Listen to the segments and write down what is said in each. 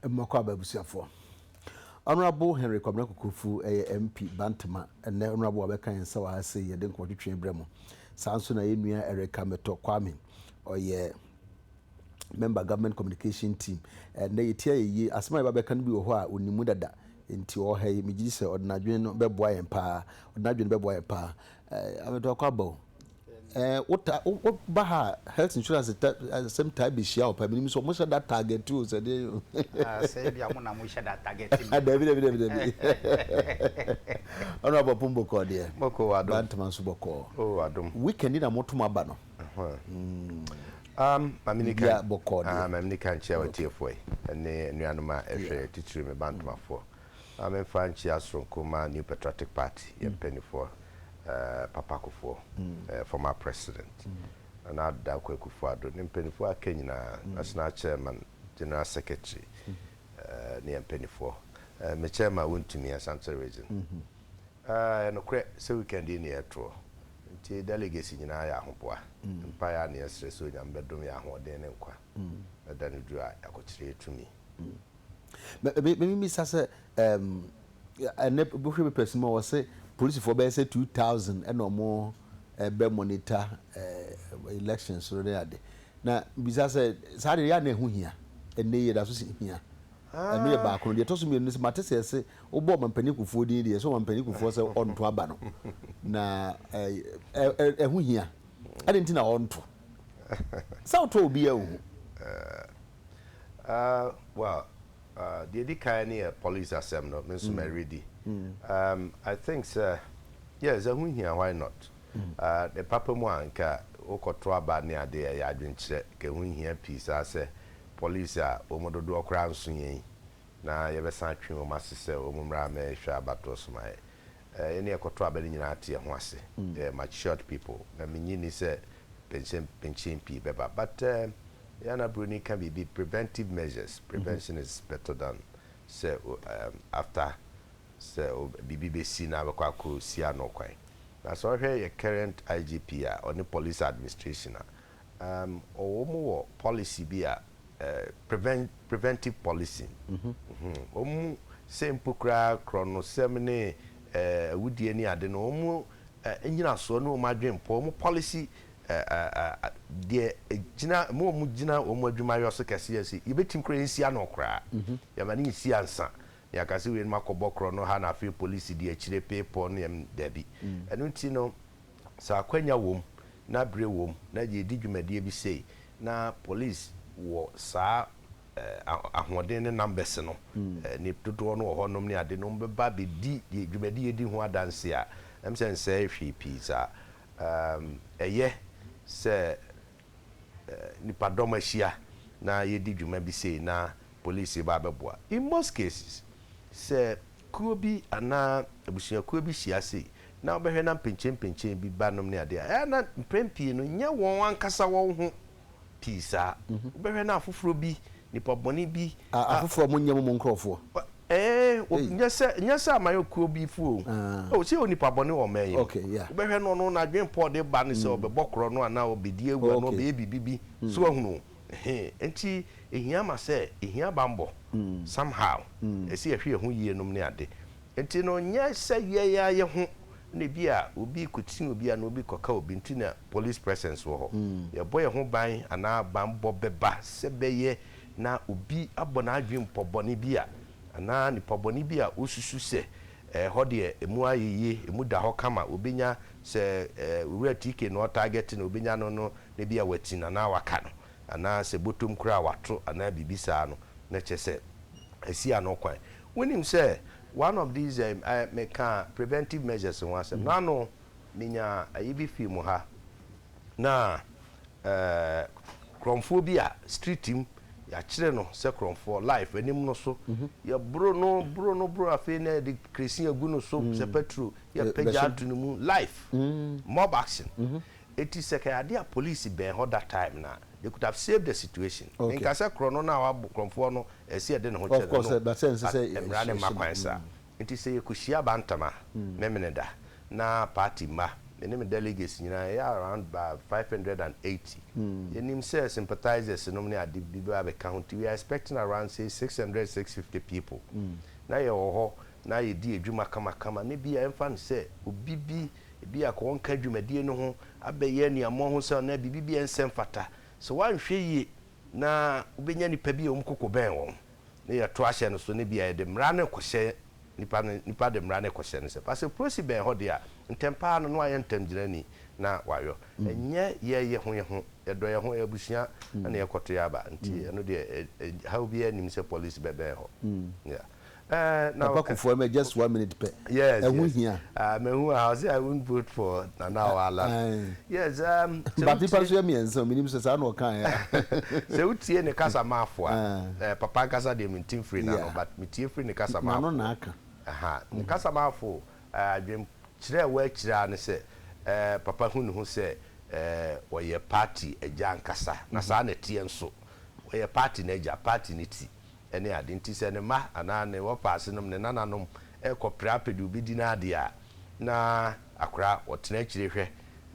mmɔkɔ aba abusuafoɔ honorable henry kwabena kokofu ɛyɛ mp bantama ɛnɛ honorable wabɛka yɛn nsa wɔ ha sei yɛde nkɔtwetwe brɛ mu saa nso na yɛn nua ɛreka metɔ kwame ɔyɛ Member government communication team. Ɛnnɛ yɛtie ayɛyie. Asɛm a yɛbɛbɛka no bi wɔ hɔ a ɔnim mu dada. Nti ɔwɔ ha yi, megye di sɛ ɔde n'adwene no bɛboa yɛn paa. Ɔde n'adwene bɛboa yɛn paa. Eh, abɛtɔ akɔ aba o. Eh, wota, woba ha a, health insurance ta, asɛm taa bɛhyia wɔ paa. Menim sɛ wɔhyɛ da target o, sɛ deɛ o. Ah, sɛ ebi a mo na mohyɛ da target me. Dabi, dabi, dabi, dabi. Ɔno abɔpom bɔkɔɔ deɛ. Bɔkɔɔ wɔ adom. Bantama nso bɔkɔɔ. Oh, adom. Weekend na motom aba no. Uh-huh. Mm. Biribiara bɔkɔɔ deɛ. Aane, Maame Nika nkyea w'atiefoɔ yi ne anuanom a ɛhwɛ yɛn, titiri me ba Ntomafoɔ. Maame mfa nkyea soronko mma New Patriotic Party, yɛn mpaninfoɔ, Papa Kufuor, former President, Nana Adda Akua-Kufuor Addo, ne mpaninfoɔ a aka nyinaa, National Chairman, General Secretary, ne yɛn mpaninfoɔ. Me Chairman wontumi, Asante Region. Ɛyɛ nokorɛ sɛ weekend yi ne yɛ toɔ nti delegates nyinaa yɛ ahoboa mpaeɛ a ne yɛ srɛ sɛ Onyame bɛdom yɛ ahoɔden ne nkwa na da no duru a yɛakɔkyerɛ yɛ tumi. Me bisa sɛ ɛɛm ɛnɛ wohwɛ papers mu a wɔse polisifoɔ bɛyɛ sɛ two thousand ɛna ɔmo ɛbɛ monitor ɛɛ elections no ne ade na bisa sɛ saa deɛ yɛ a na ɛho hia ɛnɛ yi yɛdaso hia ɛno yɛ baako no deɛ ɛtɔ so mmienu no sɛ mate sɛ yɛse Wobɔ Ɔmampanin Kufuor din deɛ, ɛsɛ Ɔmampanin Kufuor sɛ ɔnto aba no. Na ɛho hia. Adɛn nti na ɔnto? Sɛ wotɔ obiara nhu. Well, deɛ ɛdi kan ne yɛ police asɛm no, me nso mɛredi. I think sɛ, yes, ɛho hia, why not? Ne papa mu a, nka wokɔto aba ne adeɛ, ɛyɛ adwenkyerɛ. Nka ɛho nhia pii saa sɛ police a wɔn mu dodoɔ koraa nso yɛn yi. na yɛbɛsan atwe wɔn ase sɛ wɔn mmra mmɛhwɛ abatoɔ som a yɛne ɛkɔtɔ aba no nyinaa ate yɛn ho ase. Yɛyɛ matured people, na mennye nni sɛ penkyempentyen pii bɛba. But yɛn na Buroni ka biribi, preventive measures, prevention is better than sɛ after sɛ biribi bɛsi na wobɛkɔ akɔsi ano kwan. Na sɛ wohwɛ yɛn current IGP a ɔne police administration a Um, wɔn wɔ policy bi a, eh, prevent, preventive policing. Mm -hmm. Mm -hmm. Wɔn mu sɛ mpo koraa korɔnosɛm ne eh, awudie ne ade no, wɔn mu eh, nyinasoɔ ne wɔn adwenpɔ, wɔn policy eh, eh, eh, deɛ egyina mu wɔn gyina wɔn adwumayɔ so kɛse yɛ sɛ yɛbɛtumi koraa yɛnsi ano koraa, mm -hmm. yɛma ne nsi ansa na yɛaka sɛ wei no makɔbɔ korɔ no ha na afei polisi di akyire pepɔ ne ɛm dabi. Mm. Ɛno nti no Sɛ akwanya wom na bere wom na yɛredi dwumadie bi sei na polis wɔ saa ahoɔden ne numbers no, nip dodoɔ no wɔ hɔ nom ne ade nom bɛba bɛdi deɛ dwumadie yɛdi ho adanseɛ a, ɛm sɛ nsɛe hwee pii saa. Ɛyɛ sɛ nnipadɔm ahyia na yɛredi dwuma bi sei na polisi reba abɛboa. In most cases, sɛ kuo bi anaa abusuakuo bi hyia sei na wobɛhwɛ na mpenkyenmpenkyen bi ba nom ne adeɛ a, ɛyɛ na mprɛn pii no nyɛ wɔn ankasa wɔn ho pii saa. Wobɛhwɛ na afoforɔ bi, nnipa bɔne bi a. Afoforɔ a wɔnyɛ mo mo nkurɔfoɔ. Eeh o Ei. nyɛ sɛ nyɛ sɛ aman kuo bi fo o. Ah. O sɛ onipa bɔne wɔ ɔman yi mu. Okay, yeah. Wobɛhwɛ no ɔno n'adwene Paul de ba ne sɛ ɔbɛbɔ korɔ no anaa ɔbɛdi awu anaa Okay. ɔbɛyɛ biribi bi. So wahunu? Ehe. Enti ɛhia ma sɛ ɛhia banbɔ some how. Ɛsɛ yɛhwɛ yɛn ho yie nom ne ade. Enti no nyɛ sɛ yɛn ara yɛn ho na ebi a obi kɔtia obi anaa obi kɔka obi nti na police presence wɔ hɔ. Yɛbɔ yɛn ho ban anaa banbɔ bɛba sɛ bɛyɛ na obi abɔ n'adwene pɔ bɔne bi a, anaa nipa bɔne bi a osusu sɛ ɛhɔ deɛ ɛmu ayɛ yie, ɛmu da hɔ kama, obɛnya, sɛ Owura TK na ɔtarget no, obɛnya no no, na ebia wati no anaa waka no, anaa sɛ bɔtɔm koraa wato anaa biribi saa no, na kyerɛ sɛ asi ano kwan. Wonim sɛ one of these ɛɛ ɛɛ mekaa preventive measures ho asɛm no, ano menyaa ayi bi fii mo ha, Na korɔmfoɔ bi a street mu yɛakyerɛ no sɛ korɔmfoɔ life anim no so yɛboro no boro no boro afei na yɛde kerɛsin agu no so sɛ petro yɛpagya ato no mu life mob action ɛti sɛ kɛyɛ adeɛ a police bɛn hɔ that time no a they could have saved the situation menka sɛ korɔ no no a wabɔ korɔmfoɔ no ɛsɛ yɛde ne ho kyɛ no no but mmara no mma kwan saa. Nti sɛ yɛkɔhyia bantam a, me mene da. Na party mma, me ne me delegates nyinaa yɛyɛ around about five hundred and eighty. Yɛnim sɛ sympathizers nom ne ade bi bɛba abɛka ho, nti we are expecting around say six hundred, six fifty people. Na yɛwɔ hɔ na yɛdi adwuma kamakama na ebia ɛmfa no sɛ obi bi ebia ka ɔnka dwumadie no ho abɛyɛ aniammɔ ho sɛ anaa biribi bi a ɛnsɛ mfata. Sɛ woanhwɛ yie na wobɛnya nnipa bi a wɔkoko bɛn wɔn. ne yɛto ahyɛ no so ne bia yɛde mmara no rekɔhyɛ nipa no nipa de mmara no rekɔhyɛ ne sɛ fa sɛ prosi bɛn hɔ deɛ a ntɛm paa no na wayɛ ntɛm gyinani na wayɔ ɛnyɛ yɛ yɛ ho yɛ ho yɛdɔ yɛ ho yɛ abusua ɛna mm. yɛkɔto yɛ aba nti mm. ɛno deɛ eh, eh, ha obi anim sɛ polisi bɛbɛn hɔ mm. yeah. Uh, now, Papa Kufuor, okay. just one minute. Pe. Yes, uh, yes. Here. Uh, me who I say I won't vote for Nana Wala. Uh, uh, Batepa so yɛ mmiɛnsa o, menim sɛ saa na ɔkaeɛ a. Sɛ wotie ne kasamafo a, papa ankasa deɛ mente mfiri n'ano but metie firi ne kasamafo hɔ. N'ano na aka. Ne kasamafo adwenkyerɛ a ɛwɔ akyire ara ne sɛ papa hu ne ho sɛ ɔyɛ party agya ankasa na saa na ɛteɛ nso. Ɔyɛ party no agya, party no ti. ne ade nti, sɛ ne mma anaa ne wɔpa asenom, ne nananom, rekɔpra pɛ deɛ ɔbɛdi no adeɛ a, na akora ɔtena akyire hwɛ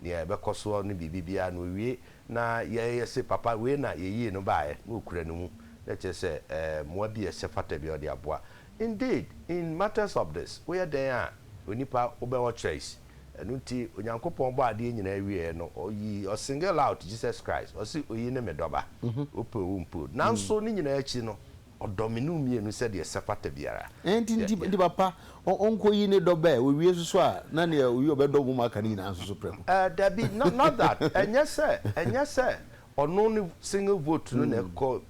deɛ ɛbɛkɔ soɔ ne biribi biara na ɔwie na yɛyɛ se papa wei na yɛyii no baeɛ na ɔkura ne mu na kyerɛ sɛ mmoa bi a ɛsɛ fata biara ɔde aboa. Indeed, in matters of this, woyɛ dɛn a onipa wobɛwɔ choice. Ɛno nti, Onyankopɔn bɔɔ adeɛ nyinaa wieɛ no, ɔyi, ɔ single out Jesus Christ, ɔse oyi ne me dɔba, wopɛ o wompɛ o. Nanso ne nyinaa akyi no, ɔdɔ me ne wo mmienu sɛdeɛ ɛsɛ fata biara. Ɛɛ nti, nti, nti papa, ɔ, ɔnkɔyi ne dɔba ɛ, ɔwie nso so a, na neɛ ɔwie ɔbɛdɔ wɔn a aka no nyinaa nso so prɛko. Ɛɛ, dabi, no, not that, ɛnyɛ sɛ, ɛnyɛ sɛ Ɔno ne single vote no na ɛkɔ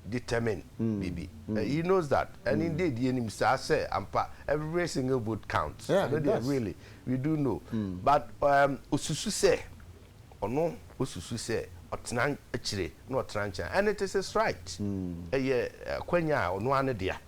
determine biribi. He knows that and indeed yɛnim saa sɛ ampa every single vote counts. Yeah, Ɛno it deɛ does. really we do know but um, osusu sɛ ɔno osusu sɛ ɔtena akyire na ɔtena nkyɛn and it is his right. Ɛyɛ akwanya a ɔno ara ne dea.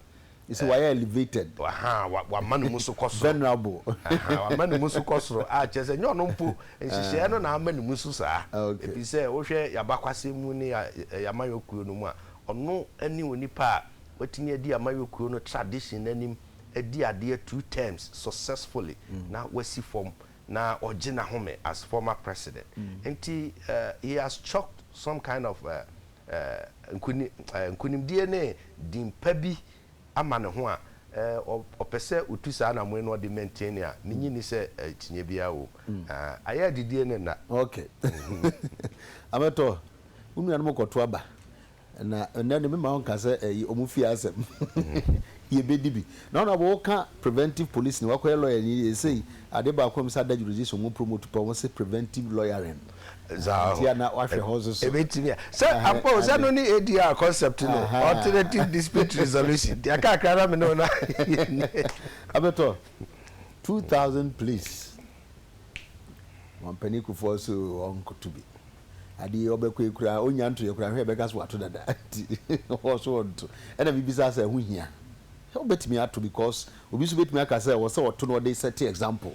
You see, wayɛ elevated. Ahaa, wa, wama ne mu so kɔ soro. Venerable. Ahaa, wama ne mu so kɔ soro, a kyerɛ sɛ, ɛnyɛ ɔno mpo, nhyehyɛɛ no na ama ne mu so saa. Okay. Efisɛ, wohwɛ y'abakwasɛm mu ne ya, ɛ, y'amayɔkuo no mu a, ɔno ne onipa a watumi adi amayɔkuo no tradition no anim adi adeɛ two terms successfully, na wasi fam, na ɔgye n'ahome as former president. Nti, eh, he has chalked some kind of eh, nkonimdie ne din pa bi ama ne ho a, ɔpɛ sɛ ɔtu saa anamoe no na ɔde maintain a, ne nyi nni sɛ akyinnyeɛ biara wɔ mu. Ayɛ adidie ne nna. Ok. Amɛtɔ, wo nuanom kɔto aba. Na ɛnnɛ deɛ memma wonka sɛ ɛyi wɔn fie asɛm. Yɛbɛdi bi. Na wɔn a wɔka preventive policing, wɔakɔyɛ lawyer ni, seesei adeɛ baako a wɔn nsa da jurisdiction wɔn promote paa, wɔn se preventive lawyering. ntia na wahwɛ hɔ nso so. Ebetumi a sɛ akpɔ sɛ no ne ADR concept no alternative dispute resolution deɛ kakra na me ne ɔna. Abɛtɔ two thousand please mampanin kufoɔ nso ɔnkoto bi adeɛ ɔbɛkɔ ekura onya nto yɛ kura hwɛ ɛbɛka so wato dada ti ɔso ɔnto ɛna bibisa sɛ ɛho hia ɔbɛtumi ato because obi nso bɛtumi aka sɛ ɔsɛ ɔto na ɔde sɛte example.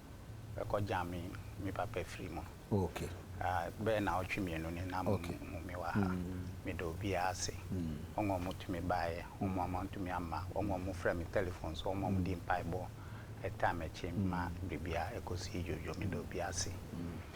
Ɛkɔ gyame me papa firi mu. Okay. Ah, bɛyɛ naawɔtwe mmienu ni na okay. mo me wɔ ha. Mm. Meda obiara ase. Mm. Wɔn a wɔtumi baeɛ, wɔn a wɔantumi amma, wɔn a wɔfrɛ me telephone so, wɔn a wɔdi mpaebɔ ɛtaa m'akyi ma biribiara ɛkɔsii dwodwo. Meda obiara ase.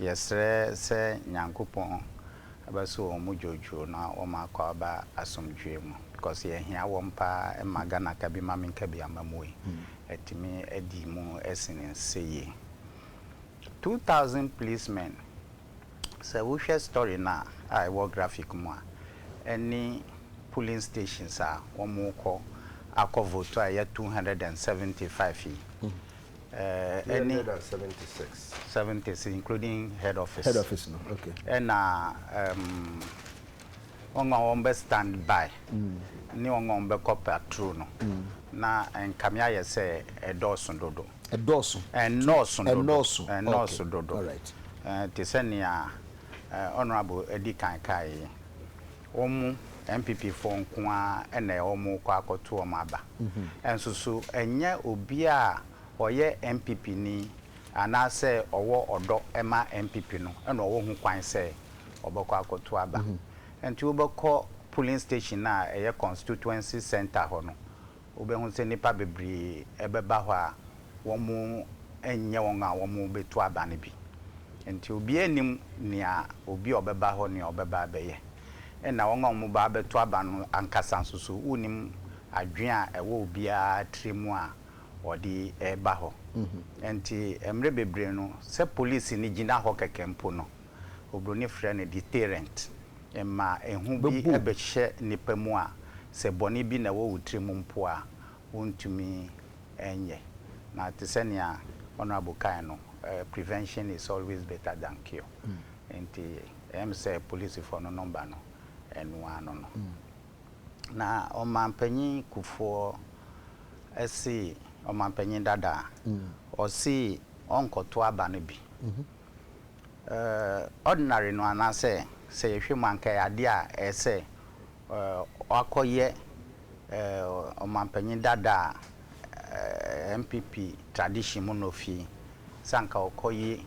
Yɛsrɛ sɛ Nyankopɔn bɛso wɔn mu dwoodwoo na wɔma akɔ aba asomdwoeɛ mu because yɛhia wɔn paa ɛma Ghana kabi ma menkabi amamuoe atumi adi mu sene sɛ yie. Two thousand policemen sɛ wohwɛ story no a ɛwɔ graphic mu a ɛne polling stations a wɔkɔ akɔ vote a ɛyɛ two hundred and seventy five yi. ɛne seventies including head office head office no okay ɛna um, wɔn a wɔn bɛ stand by mm. ne wɔn a wɔn bɛ kɔ patrol no mm. na nkame ayɛ sɛ ɛdɔɔso dodo ɛdɔɔso ɛnɔɔso dodo ɛnɔɔso ɛnɔɔso dodo te sɛ nea honourable edi kan kaa yi wɔn mu NPP foɔ nko ara na wɔn rekɔ akɔto wɔn aba. Nso so ɛnyɛ obiara a ɔyɛ NPP ni anaa sɛ ɔwɔ ɔdɔ ma NPP no na ɔwɔ ho kwan sɛ ɔbɛkɔ akɔto aba. Nti wobɛkɔ polling station a ɛyɛ constituency centre hɔ no, Wobɛhu sɛ nnipa bebree bɛba hɔ a wɔnyɛ wɔn a wɔbɛtu aba no bi. Enti obiara nnim nea obi a ɔbɛba hɔ nea ɔbɛba abɛyɛ. Ɛnna wɔn a wɔbɛba abɛtu aba no ankasa nso so, wonnim adwene a ɛwɔ obiara tirim a ɔde reba hɔ. Enti mmere bebree no, sɛ polisini gyina hɔ kɛkɛ mpo no, Oburoni frɛ no deterrent, ɛma ehu bi bɛhyɛ nnipa mu a, sɛ bɔne bi na ɛwɔ wo tirim mpo a, wontumi nyɛ. Na te sɛ nea Honourable kae no, prevention is always better than cure. Enti ɛyɛ me sɛ polisifoɔ no number no, ɛno ara no no. Na Ɔmanpanyin Kufuor se, Ɔmanpanyin dada, ɔse ɔnkɔto aba no bi eh, ordinary no anaasɛ sɛ yɛhwɛ mu anka ɛyɛ adeɛ a ɛyɛ sɛ eh, ɔakɔyɛ eh, ɔmampanyin dada a eh, NPP tradition mu na ofi sɛ anka ɔkɔyi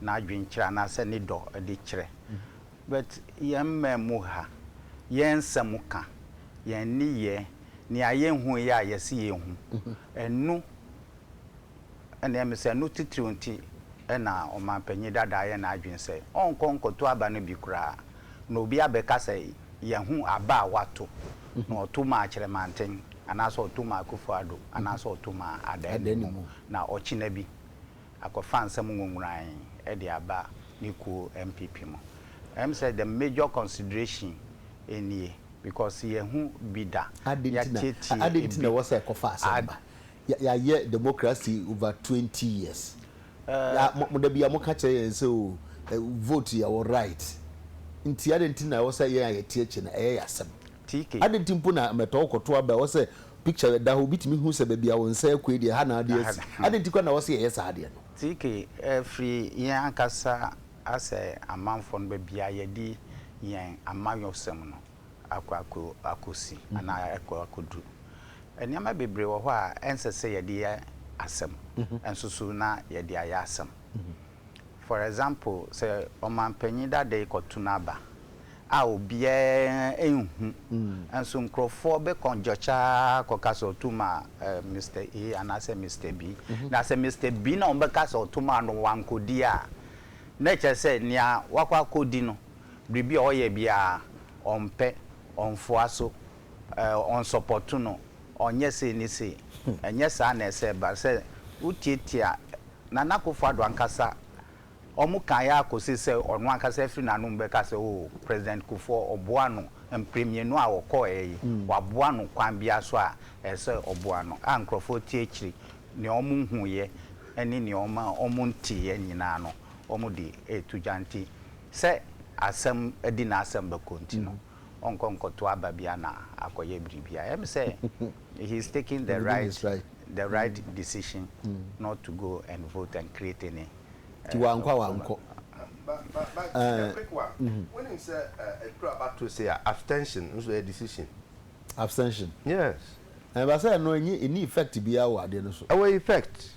n'adwenkyerɛ anaasɛ ne dɔ de kyerɛ but yɛn mmɛn mu ha yɛn nsɛm ka yɛn nneyɛɛ nea yɛnhu yɛ a yɛse yɛhu ɛnu Ɛnneɛ mese ɛno titiriw nti na ɔmampanyin dada ayɛ n'adwene sɛ ɔnkɔ nkɔto aba no bi koraa na obi abɛka sɛ yɛahu aba a wato na ɔto maa Kyerɛmanten anaasɛ ɔto maa Akufo Addo anaasɛ ɔto maa Adannimu na ɔkyena bi akɔfa nsɛm nwonworan de aba ne kuo NPP mu. Ɛm sɛ the major consideration nie because yɛahu bi da, yɛatiatia bi. Adɛn nti na ɛwɔ sɛ ɛkɔfa asɛm ba? yɛ yɛayɛ democracy over twenty years yɛ a mo mo da bi a mo ka kyerɛ yɛn sɛ o ɛ vote yɛ wɔ right nti adan ti na ɛwɔ sɛ yɛn a yɛte akyi no ɛyɛ yɛ asɛm TK. adan ti mpo na mɛtɔ wo kɔto aba ɛwɔ sɛ picture ɛda hɔ obi tumi hu sɛ baabi a wo nsa akue yi deɛ ɛha na adeɛ asi adan ti kora na ɛwɔ sɛ yɛyɛ saa adeɛ no. TK, ɛfiri yɛn ankasa asɛ amanfoɔ no baabi a yɛde yɛn amayɔsɛm no. akɔ akɔ akɔsi anaa akɔ akɔduru. Nneɛma bebree wɔ hɔ a ɛnsɛ sɛ yɛde yɛ asɛm nso so na yɛde ayɛ asɛm. For example, sɛ ɔmanpanin dada yi kɔto n'aba a obiara nhu nso nkurɔfoɔ bɛ kɔngyɔkya ara kɔka sɛ ɔto maa eh, Mister A anaasɛ Mister B. Na sɛ Mister B na wɔbɛka sɛ ɔto maa no wankɔdi a, na ɛkyerɛ sɛ nea wakɔ akɔdi no biribi a ɔyɛ biara ɔmpɛ, ɔnfoa so, ɔnsɔpɔto no, ɔnyɛ sei ne sei. Ɛnyɛ saa na ɛsɛ ba. Sɛ wotiatia Nana Akufo Addo ankasa, wɔkae ara kosii sɛ ɔno ankasa afiri n'anom bɛka sɛ oh, President Kufuor ɔboa no mpre mmienu a ɔkɔeɛ yi, waboa no kwan biara so a ɛsɛ sɛ ɔboa no, a nkurɔfoɔ te akyiri, nea wɔhuiɛ ne nea wɔnteeɛ nyinaa no wɔde reto dwa nti, Sɛ asɛm di n'asɛm bɛkɔ nti no ɔnkɔ nkɔto aba bi ana akɔyɛ biribi a ɛm sɛ he is taking the right the right decision not to go and vote and create any Nti wankɔ a wankɔ. But a quick one, wonim sɛ ɛduru aba to sei a abstention nso ɛyɛ decision? Abstention? Yes. Ɛba sɛ ɛno ɛnyɛ ɛnni effect biara wɔ adeɛ no so. Ɛwɔ effect.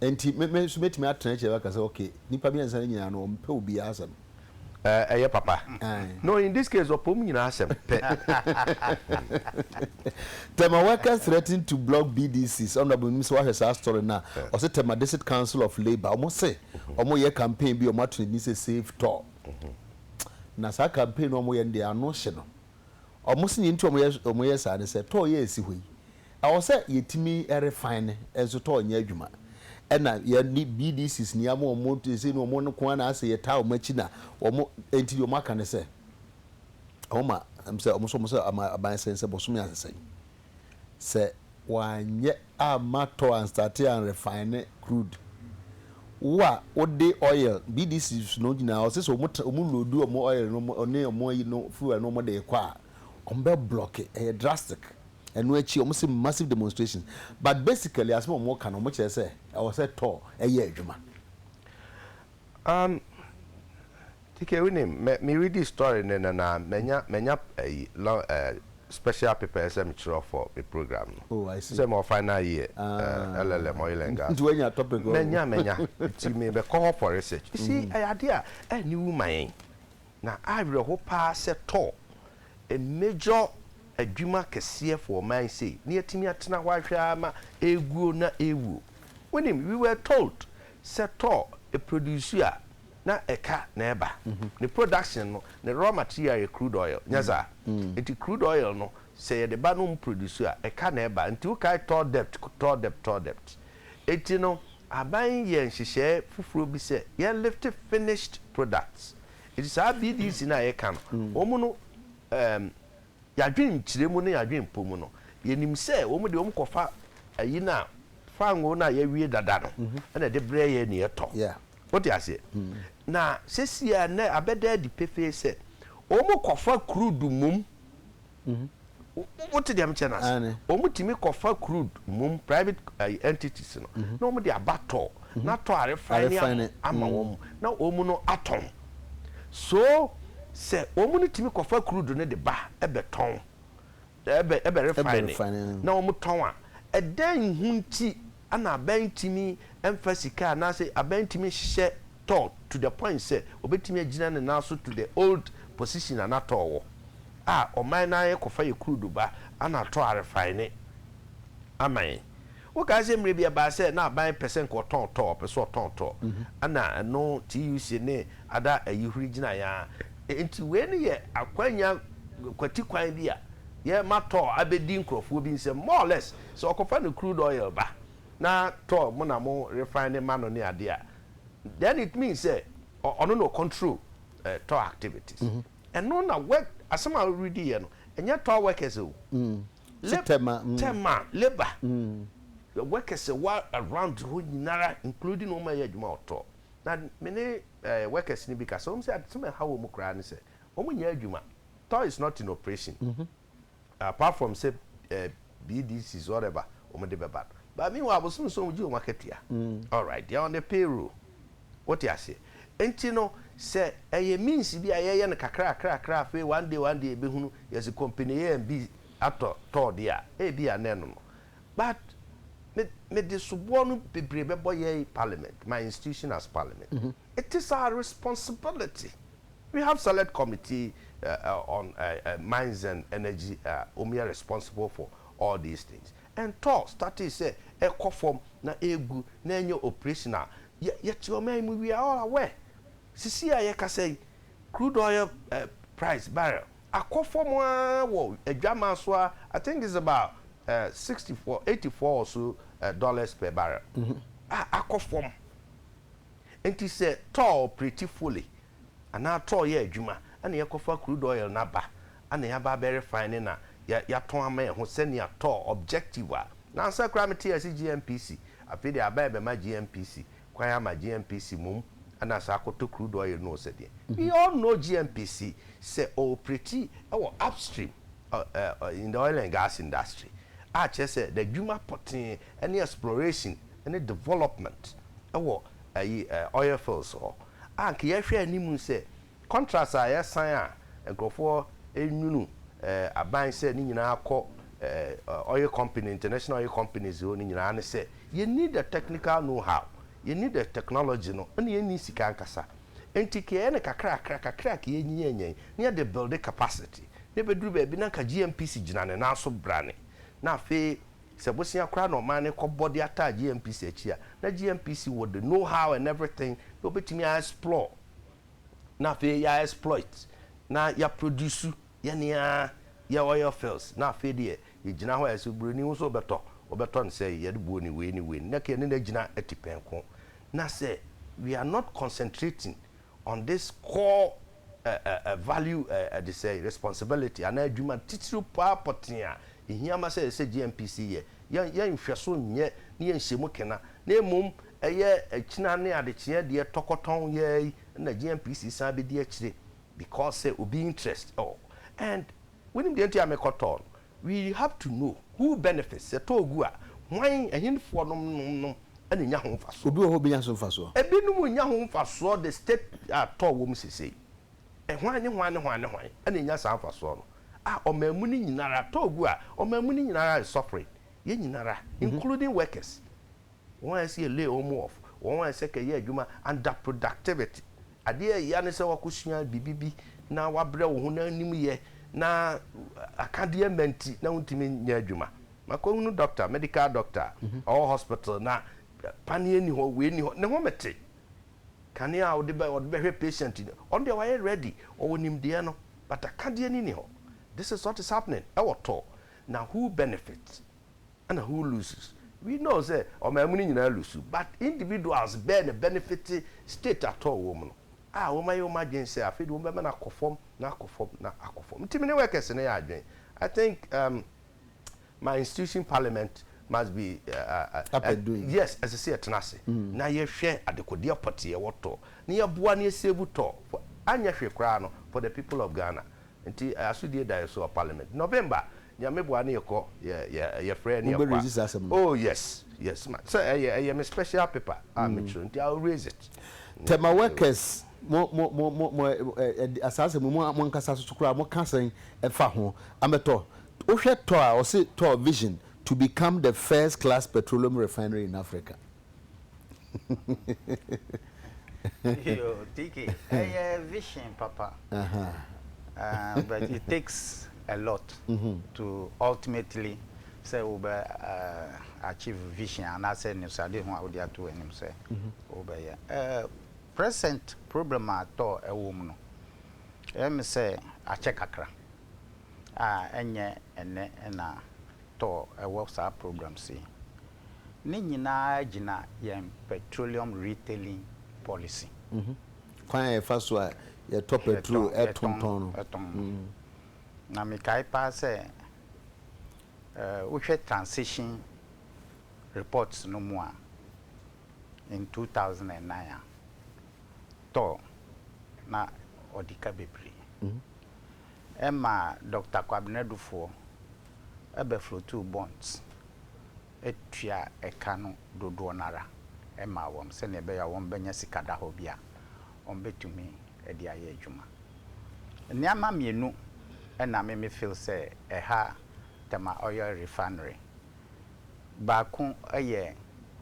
Enti me me nso mɛtumi atena akyire aka sɛ okay nnipa mmiɛnsa no nyinaa no wɔmpɛ obiara asɛm. Ɛɛ ɛyɛ papa. Ae. No in this case ɔpɛ wɔn nyinaa asɛm pɛ. Tema workers threaten to block BDCs Honourable menim sɛ woahwɛ saa story no a ɔse Tema District Council of Labour wɔn se wɔn reyɛ campaign bi a wɔn ato ne din sɛ Save Tɔɔ na saa campaign no a wɔn reyɛ no deɛ ano hye no wɔn se deɛ nti a wɔn yɛ saa ne sɛ tɔɔ yi a ɛsi hɔ yi Ɛwɔ sɛ yɛtumi refine nso tɔ nyɛ adwuma. Ɛna yɛne BDCs ni ama wɔn ɛsei no wɔn nko ara na asɛ yɛtaa wɔn akyi na wɔn ɛnti deɛ wɔn aka ne sɛ wɔn ma sɛ wɔn nso wɔn sɛ ama aban sɛn sɛ bɔsome ansɛn sɛ wɔanyɛ ama tɔ anstate an refine crude wo a wode oil BDCs no nyinaa ɔsɛ sɛ wɔn wɔn load wɔn oil no ne wɔn ayi no fuel no wɔn de rekɔ a wɔn bɛ block ɛyɛ drastic. Ɛno akyi wɔn se massive demonstrations but basically asem a wɔn ka no wɔn kyerɛ sɛ ɛwɔ sɛ tɔɔ ɛyɛ adwuma. Um Kikɛ wonim me me readi story no nnɛ no ara manya manya ayi lon eh special paper a ɛsɛ me kyerɛ for me program no. Oh I see. Sɛ mewɔ final year eh Ah LLM oil and gas nti no. wanya topic wɔ ho. Manya manya nti me bɛkɔ hɔ for research. You see ɛyɛ adeɛ a ɛnni wu ma yɛn. Na awerɛho paa sɛ tɔɔ a major adwuma kɛseɛ for ɔman sei na yɛatumi atena hɔ ahwɛ ara ma ɛreguo na ɛrewuo. Wonim, we were told sɛ tɔɔ a produce a na ɛka na ɛba. Ne production no, ne raw material yɛ crude oil, nyɛ saa? Nti crude oil no sɛ yɛde ba na wɔn produce a, ɛka na ɛba. Nti wokae tɔɔ dept, tɔɔ dept, tɔɔ dept. Nti no Aban yi yɛɛ nhyehyɛɛ foforɔ bi sɛ yɛn lifte finished products. Nti saa BDC no a yɛka no, wɔn no ɛɛm yɛadwenkyerɛ mu ne yɛadwenpɔ mu no, yɛnim sɛ wɔn deɛ wɔn kɔfa ayi no a, fangoo no a yɛawie dada no ɛna ɛde brɛ yɛn na yɛtɔ. Wote aseɛ? Na sesie a nnɛ abɛda adi pefee sɛ wɔn kɔfa crude mmom. Wote deɛ mekyɛ no ase? Wɔn tumi kɔfa crude mmom private ayi entities no na wɔn de aba tɔ na tɔ a refine ama ama wɔn na wɔn no atɔn. So sɛ wɔn no tumi kɔfa crude no de ba ɛbɛ tɔn ɛbɛ ɛbɛ refine na wɔn tɔn a ɛdɛn ho nti Ana aban ntumi mfa sika anaasɛ aban ntumi nhyehyɛ toll to the point sɛ ɔbɛtumi agyina ne nan so to the old position a na toll wɔ a ɔman no ara kɔfa yɛ crude ba ana atɔ arefine ama yɛn. Wokae sɛ mmerɛ bi ɛbaa sɛ na aban pɛ sɛ nka ɔtɔn toll, ɔpɛ sɛ ɔtɔn toll ana ɛno TUC ne ada ayihuri gyinaeɛ ara. Enti wei no yɛ akwanya kwati kwan bi a yɛrema toll abɛdi nkorɔfoɔ bi nsam more or less. Sɛ ɔkɔfa ne crude oil ba na tɔ mo na mo refine ne ma no ne ade a, then it means sɛ ɔno na ɔ control eh, tɔ activities. Ɛno na work, asɛm a woredi yɛ no, ɛnyɛ tɔ workers o. Lab, Tɛma. tɛma, labour. The workers ɛwɔ around hɔ nyinara including wɔn a ɛyɛ adwuma wɔ tɔ. Na me ne eh, workers no bi kasa, wɔn sɛ ade sɛm a ɛha wɔn koraa ne sɛ, wɔn nyɛ adwuma. Tɔ is not in operation. Apart from sɛ eh, BDCs whatever wɔn de bɛba no. But meanwhile abosom nson wɔn gye wɔn akatua. Alright, they are on the payroll. Wote aseɛ? Nti no sɛ ɛyɛ means bi a yɛyɛ no kakrakrakra afei one day one day yɛbɛhunu yɛsi company A and B atɔ tɔɔ deɛ a, ebia na ɛno no. But me mede soboɔ no bebree bɛbɔ yɛn parliament, my institution as parliament. It is our responsibility. We have select committee on mines and energy a wɔn yɛ responsible for all these things and tɔ startee sɛ ɛkɔ fam na ɛregu na ɛnyɛ operation a yɛ yɛte ɔman yi mu we are all aware sisi a yɛkasa yi crude oil price barrel akɔ fam ara wɔ adwaman so ara I think it's about sixty four eighty four or so dollars per barrel a akɔ fam. Enti sɛ tɔɔ pretty Foley anaa tɔɔ yɛ adwuma na yɛkɔfa crude oil no aba na yɛaba abɛ refine no na yɛatɔn ama yɛn ho sɛnea tɔɔ objective a, na ansa koraa metee ase GNPC, afei deɛ aba rebɛma GNPC kwan ama GNPC mmom na saa kɔtɔ crude oil no o sɛdeɛ. We all know GNPC sɛ ɔɔpreti wɔ upstream in the oil and gas industry a kyerɛ sɛ n'adwuma pɔtee ɛne exploration ne development wɔ ayi oil fields hɔ a nka yɛhwɛ anim sɛ contracts a yɛsan a nkurɔfoɔ nwunu aban sɛ ne nyinaa kɔ oil company international oil companies hɔ no nyinaa ne sɛ yɛ need the technical know how yɛ need the technology no ɛna yɛ need sika ankasa nti ka yɛ ne kakrakra kakra ka yɛ nyinyɛ nyɛ na yɛ de build capacity na ɛbɛduru baabi na nka GMPC gyina ne nan so brane na afei Sɛ bosea koraa na ɔman no kɔbɔ de ataa GNPC akyi a, na GNPC wɔ the know how and everything na wɔbɛtumi a explore na afei yɛ a exploit na yɛ produce yɛn ara yɛ oil fields na afei deɛ yɛgyina hɔ a sɛ buroni ho sɛ ɔbɛtɔ ɔbɛtɔ no sɛ yɛde buo ne wei ne wei ne na yɛne no agyina atipɛnko na sɛ we are not concentrating On this core ɛɛ value ɛɛ ɛde sɛɛ responsibility anaa adwuma titiriw paa pɔtee a ehia ma sɛ yɛsɛ GNPC yɛ yɛn yɛn nhwɛso nyɛ ne yɛn nhyiamu kena na mmom ɛyɛ akyina ne adekyeɛ deɛ tɔkɔtɔn yɛɛ yi na GNPC san bɛdi akyire because sɛ obi interest oh and wonim deɛ nti a mekɔtɔɔ no We have to know who benefits, sɛ tɔ gu a, hwan, ɛhenfoɔ nom nom nom na ɛnya ho mfasoɔ? Obi wɔ hɔ a ɔbɛnya so mfasoɔ? Ɛbinom nnya ho mfasoɔ the state a tɔ wɔ mu sesei. Hwan ne hwan ne hwan ne hwan na ɛnya saa mfasoɔ no? Ah, ɔman mu no nyina ara, tɔ gu a, ɔman mu no nyina ara is suffering, yɛn nyina ara, including workers. Wɔn a ɛsɛ yɛ lay wɔn off, wɔn a ɛsɛ kɛyɛ adwuma under productivity. Adeɛ a ɛya ne sɛ woakɔsua biribi bi na woabrɛ wo ho na wonim yɛ na akadeɛ mma nti na wontumi nyɛ adwuma. Makɔhunu dɔkta, medical doctor, ɔwɔ hospital na paneɛ nni hɔ, wei nni hɔ, ne ho mete. Kane a ɔde bɛ, ɔde bɛhwɛ patient no, ɔno deɛ wayɛ ready, ɔwɔ nimdeɛ no, but akadeɛ no nni hɔ. This is what is happening ɛwɔ tɔ, na who benefits? Ɛna who loses? We know sɛ ɔman mu no nyinaa lusu but individuals bɛɛ na ɛbɛnefite state at all wɔ mu no a wɔayɛ wɔn adwene sɛ afei deɛ wɔn bɛma no akɔ fam na akɔ fam na akɔ fam. Nti me ne workers no yɛ adwene. I think um, my institution parliament must be uh, uh, uh, Up and doing. yes ɛsɛ sɛ yɛtena ase na yɛhwɛ adekodeɛ pɔte yɛwɔ tɔ na yɛboa na yɛsave tɔ for anyɛ hwee koraa no for the people of Ghana. Nti eh, asodie da yɛ so wɔ parliament November Nyame boa ne yɛkɔ yɛ yɛ yɛfrɛ ne yɛkɔ a. Wobɛ raise saa asɛm no. Oh yes yes ma sɛ ɛyɛ ɛyɛ me special paper a me kyerɛ nti I will raise it. Tema workers mo mo mo mo mo ɛ saa asɛm yi mo mo ankasa soso koraa mo ka sɛn ɛfa ho? Amɛtɔ wohwɛ tɔ a ɔse tɔ vision to become the first class petroleum refinery in Africa. Yo, TK, ɛyɛ vision papa. But it takes a lot to ultimately sɛ wobɛ achieve vision anaasɛ anisoadehu a wode ato w'anim sɛ wobɛyɛ. Present problem a tɔ ɛwɔ mu no, ɛyɛ me sɛ akyɛ kakra a ɛnyɛ ɛnnɛ na tɔ ɛwɔ saa programs yi. Ne nyinaa gyina yɛn Petroleum Retailing Policy. Kwan a yɛfa so a yɛtɔ pɛtrol tontɔn no. Tɔn. Na mekae paa sɛ wohwɛ transition report no mu a, in 2009 a, tɔ na ɔdi ka bebree. Ɛma Doctor Kwabena Dufoɔ bɛflotuu bonds tua ɛka no dodoɔ no ara maa wɔn sɛdeɛ ɛbɛyɛ a wɔbɛnya sika da hɔ bi a wɔbɛtumi de ayɛ adwuma. Nneɛma mmienu na me me feel sɛ ɛha Tema Oil Refinery. Baako yɛ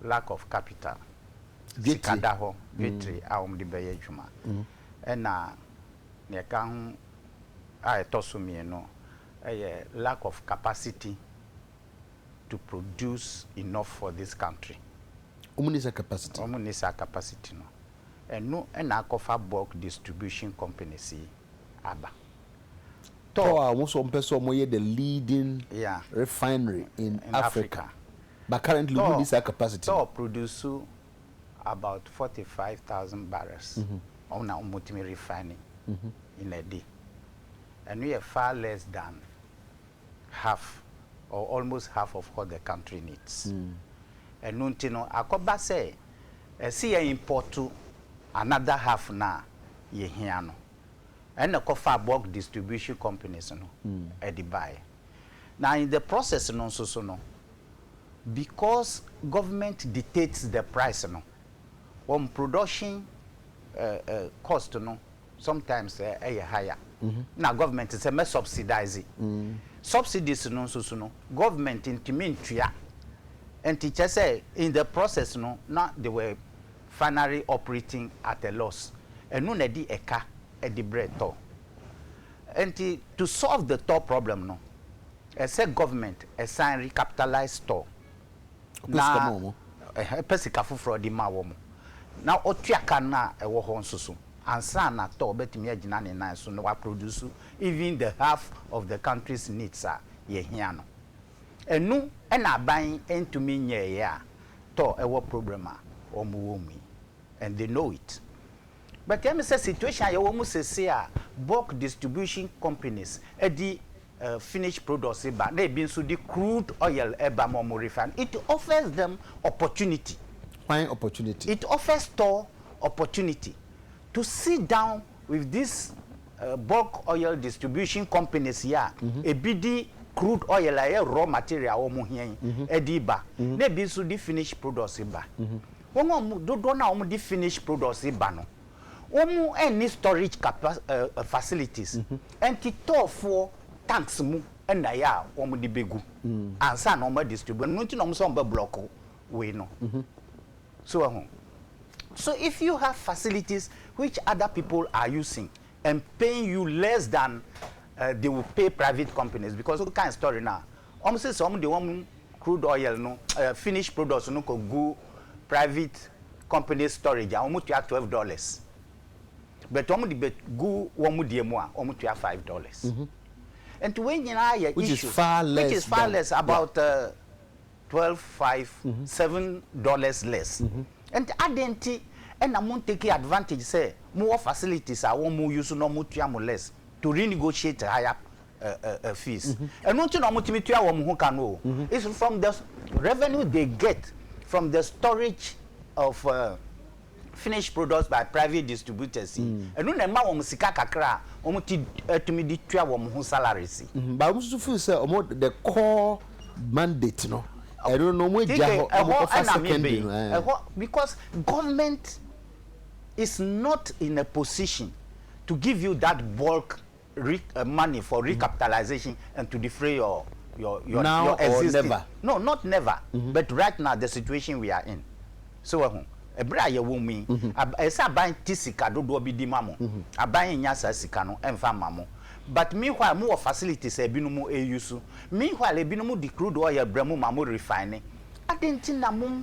lack of capital, sika da hɔ, battery a wɔde bɛyɛ adwuma ɛna deɛ ɛka ho a ɛtɔ so mmienu yɛ lack of capacity to produce enough for this country. Wɔn nni saa capacity. Wɔn nni saa capacity no. Ɛno na akɔfa bulk distribution companies yi aba. Tɔ. Tɔ a wɔn nso wɔpɛ sɛ wɔyɛ the leading yeah. refinery in, in Africa. Africa. But currently wɔn nni saa capacity. Tɔ produce about forty five thousand barrels ɔmo na ɔmo tumi refine in a day ɛno yɛ far less than half or almost half of what the country needs ɛno nti no akɔba sɛ ɛse yɛ import another half no a yɛ hia no ɛna ɛkɔ faa bulk distribution companies no ɛde baeɛ na in the process no nso so no Because government dictates the price no, wɔn production cost no sometimes yɛ higher na government te sɛ mɛ subsidize. Subsidies no nso so no, government ntumi ntua. Nti kyerɛ sɛ in the process no na they were finally operating at a loss. Ɛno na ɛde ɛka de brɛ tɔ. Nti to solve the tɔ problem no, Ɛsɛ government ɛsan recapitalise store na ɛpɛ sika foforɔ ɔde ma wɔn na ɔtua ka no a ɛwɔ hɔ nso so ansa na store bɛtumi agyina ne nan so na wa produce even the half of the country's needs a yɛhia no. Ɛno na aban ntumi nyɛɛyɛ a tɔ ɛwɔ problem a wɔn wɔ mu yi and they know it. But ɛyɛ me sɛ situation a yɛwɔ mu seesei a bulk distribution companies de finished products ba na ebi nso de crude oil ba ma wɔn refine, it offers them opportunity. Hwan opportunity? It offers store opportunity to sit down with this bulk oil distribution companies yi a ebi de crude oil a ɛyɛ raw material a wɔn hia yi de ba na ebi nso de finished products ba. Wɔn a wɔn dodoɔ no a wɔn de finish products ba no, wɔn nni storage capa ɛɛ facilities, ɛnti tɔɔfoɔ tanks mu na ɛyɛ a wɔn de bɛ gu ansa na wɔn a distribute, ɛno nti na wɔn sɛ wɔn bɛ block wei no, so wɔ ho? So if you have facilities which other people are using and paying you less than ɛɛ they will pay private companies because wo kan story no a Wɔn se sɛ wɔn de wɔn crude oil no ɛɛ finished products no kɔ gu private companies storage a wɔn tua twelve dollars but wɔn de bɛ gu wɔn deɛ mu a wɔn tua five dollars nti wei nyinaa yɛ issues which is far less which is far less about ɛɛ uh, twelve five seven dollars less nti adan nti ɛna mo take advantage sɛ mo wɔ facilities a wɔn mo use na wɔn tua mo less to renegotiate higher fees ɛno nti na wɔtumi tua wɔn ho ka no o it's from the revenue they get from the storage of uh, finished products by private distributors yi mm. ɛno na ɛma wɔn sika kakra a wɔn ti ɛtumi de tua wɔn ho salaries. Mm-hmm. baabu nso feel sɛ wɔn the core mandate no ɛno na wɔn agya hɔ wɔn kɔfa secondary no. Eh. ɛhɔ because government is not in a position to give you that bulk re money for recapitalization and to defray your your your now your existing no not never mm -hmm. but right now the situation we are in so wɔ ho ɛberɛ a yɛwɔ mu yi ɛsɛ aban ti sika dodoɔ bi di ma mo aban nya saa sika no ɛmfa ma mo but meanwhile mo wɔ facilities a ebinom ɛyi so meanwhile ebinom di crude oil brɛ mo ma mo refine adɛn ti na mo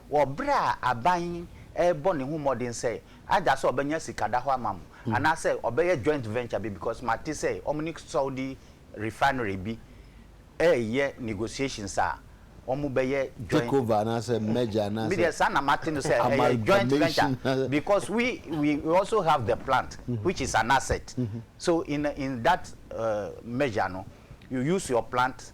Wɔ bere a aban rebɔ ne ho mmɔden sɛ either sɛ ɔbɛnya sika da hɔ ama mo anaasɛ ɔbɛyɛ joint venture bi because mate sɛ wɔn ne Saudi refinery bi reyɛ negotiations a wɔbɛyɛ joint Take over anaasɛ merger anaasɛ Me deɛ saa na mate no sɛ ɛyɛ joint venture amalgamation. because we we we also have the plant which is an asset so in in that uh, measure no you use your plant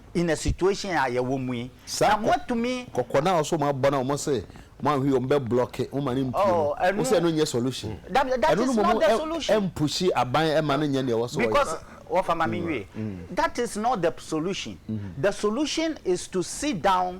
in a situation a yɛwɔ mu yi na mo atumi. Saa kɔkɔ no a ɔsɛ ɔmo abɔ na ɔmo se ɔmo anhwɛ yi ɔmo bɛ blɔke mo ma no mpue no wo se ɛno nyɛ solution ɛno no mmom ɛmpushi aban ɛma no nyɛ nea ɛwɔ sɛ ɔyɛ. Because wɔfa ma me nwie that is not the solution the solution is to sit down.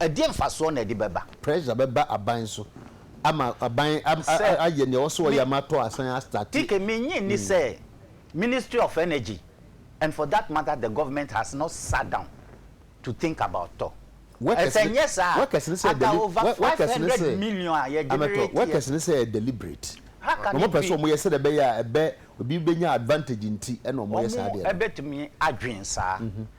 Ɛdeɛn mfasoɔ na ɛde bɛba? Pressure bɛba aban so ama aban ayɛ nea ɔwɔ sɛ ɔyɛ ama atɔ asan a start. TK, mennye nni sɛ Ministry of Energy and for that matter the government has not sat down to think about tɔ. Sɛ nyɛ saa a, aka over five hundred million a yɛ generate yɛ. Workers no sɛ ɛyɛ deliberate. How can it be? Na wɔpɛ sɛ wɔyɛ sɛdeɛ ɛbɛyɛ a ɛbɛ, obi bɛnya advantage nti na wɔyɛ saa adeɛ no. Wɔbɛtumi adwen saa.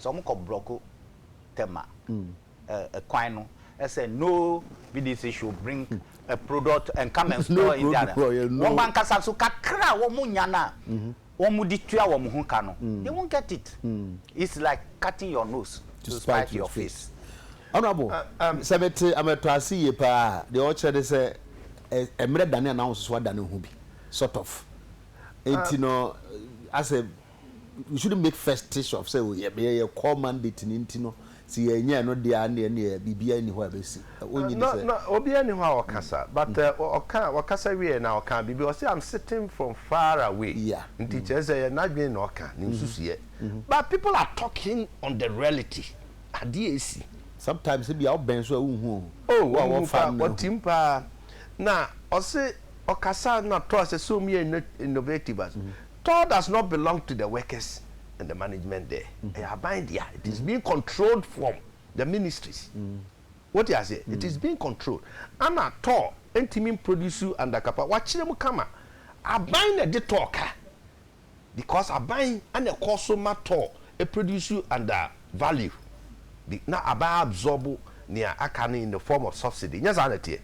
sɛ ɔmo kɔ brɔko tɛma ɛkwan no ɛsɛ no BDC should bring a product and come and store in their wɔn ankasa so kakra a wɔn nya no a wɔn de tua wɔn ho ka no they won't get it it's like cutting your nose to spite your face. Honourable, sɛ mete amɛtɔ ase yie paa a, deɛ ɔkyerɛ ne sɛ mmerɛ dane a n'ahososo adane ho bi sort of nti no asɛ we shouldn't make festish of sɛ yɛ yɛ yɛ core mandate no nti no sɛ yɛ nyɛ ɛno deɛ a ɛnneɛ ɛnneɛ biribiara nni hɔ a ɛbɛsi wonye di sɛ. Na na obiara nni hɔ a ɔkasa but uh, ɔka ɔkasa wieɛ na ɔka biribi ɔse I'm sitting from far away yeah. nti mm. kyerɛ sɛ yɛ n'adwene na ɔka ne mm-hmm. nsusuiɛ mm-hmm. but people are talking on the reality adeɛ ɛsi sometimes ebi a ɔbɛn so a wohu o. o oh, wɔn mu pa wɔtim paa na ɔse ɔkasa na tɔ sɛ so mu yɛ innovative as mm-hmm. Toll does not belong to the workers and the management there, ɛyɛ aban dea, it is being controlled from the ministries. Wote aseɛ? It is being controlled. Ana toll ntumi mproduce under capa, wakyerɛ mu kama. Aban na ɛde toll ka because aban na ɛkɔ so ma toll produce under value bi na aban absorb nea aka no in the form of subsidy, nyɛ saa na ɛteɛ?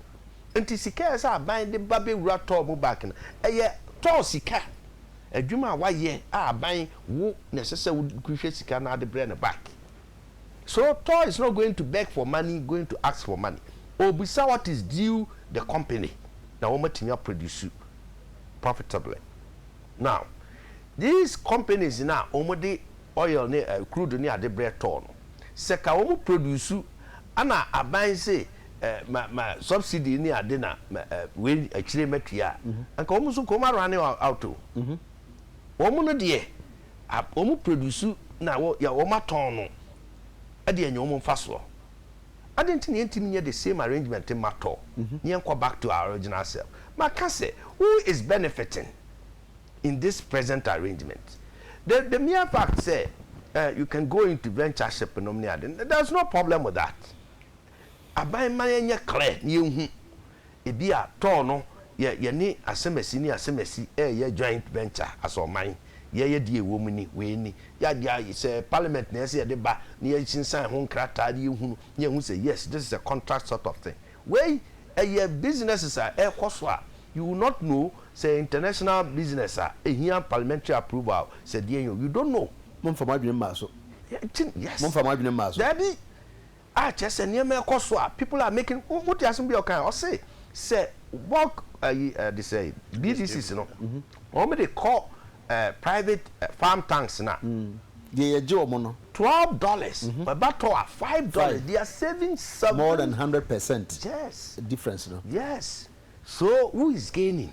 Nti sika a ɛsɛ sɛ aban de ba bɛwura tɔɔ mu bank no, ɛyɛ tɔɔ sika, adwuma a wayɛ a aban wo na ɛsɛ sɛ wohwɛ sika no ara de brɛ no back. So tɔɔ is not going to beg for money, going to ask for money. Ɔrebisa what is due the company na wɔatumi a produce profitably. Now these companies no a wɔn de oil ne crude ne ade brɛ tɔɔ no, sɛ ka wɔn produce ana aban se ma ma subsidy ne ade na wei akyire matua a, anka wɔn nso nka wɔn a running out o. Wɔn no deɛ wɔn produce na wɔn atɔn no ɛdeɛ nyɛ wɔn mfasoɔ. Adɛn nti na yɛntumi nyɛ the same arrangement mma tɔ? Na yɛnkɔ back to our original self. Maka sɛ, who is benefiting in this present arrangement? The the mere fact sɛ eh, you can go into ventureship nom ne ade no, there is no problem with that. Aban ma yɛnyɛ clear na yɛnhu Ebia tɔɔ no yɛ yɛne asɛmasi ne asɛmasi reyɛ joint venture as ɔman. Yɛyɛ deɛ ɛwɔ mu ni, wei ni. Yɛa, yɛa, sɛ parliament na ɛyɛ sɛ yɛde ba na yɛasinsan ho nkrataa na yɛhunu na yɛhu sɛ yes, this is a contract sort of thing. Wei ɛyɛ businesses a ɛrekɔ so a you will not know sɛ ɛyɛ international business a ɛhia parliamentary approval sɛ deɛn o, you don't know. Momfa mo adwene mmaa so. Yes. Momfa mo adwene mmaa so. Daabi. a kyerɛ sɛ nneɛma ɛkɔ so a people are making wo mo te asem bi a ɔkan ɔse sɛ bulk ayi eh, ɛde sɛ BDCs no wɔn de kɔ eh, private eh, farm tanks na deɛ yɛgye wɔn no twelve dollars ɛba tɔ a five dollars Five. they are saving more seven than hundred percent yes difference no yes so who is gaining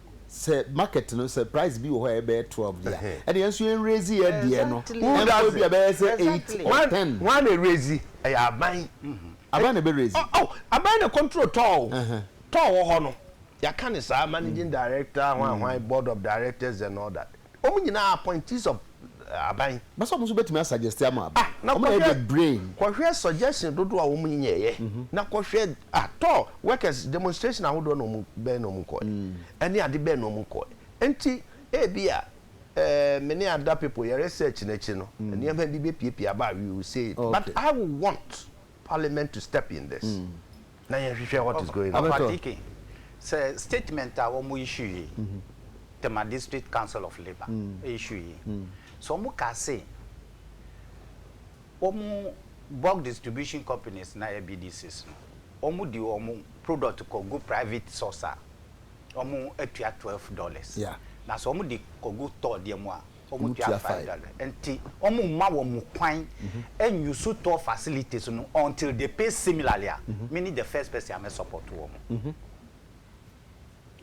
sɛ market no sɛ price bi wɔ hɔ a ɛbɛyɛ twelve deɛ a ɛna yɛn nso yɛn raise yɛn deɛ no ɛnkɔ ebi a bɛyɛ sɛ eight or ten. wɔn na raise ɛyɛ aban. aban na ɛbɛ raise. oh aban na control tɔɔ o tɔɔ wɔ hɔ no yɛaka ne saa managing director hwan hwan board of directors and all that. Wɔn nyinaa appointees of aban. Bɛsɛ wɔn nso bɛtumi asuggesti ama aban. Ah, na wɔn na yɛ brain. Kɔhwɛ suggestion dodoɔ a wɔn nyɛɛyɛ. Mm -hmm. Na kɔhwɛ ah, tɔ workers demonstration ahodoɔ na wɔn bɛn na wɔn kɔɛ. Mm. Ɛne ade bɛn na wɔn kɔɛ. Nti ebi a eh, me ne ada people yɛ research n'akyi no, mm. nneɛma bi bɛpiepie aba we will say it. Okay. But I will want. parliament to step in this na yɛn hwehwɛ what is going on. Ɔfa DK sɛ statement a wɔn issue yi Tema district council of labour issue yi sɛ wɔn kaa se wɔn bulk distribution companies na yɛ BDCs no wɔn di wɔn product kɔ gu private source a wɔn atua twelve dollars na sɛ wɔn di kɔ gu tɔɔ deɛ mu a wɔtua faida no nti wɔmma wɔn kwan nyi so tɔ facilities no until they pay similarly a me ne the first person a mɛ support wɔn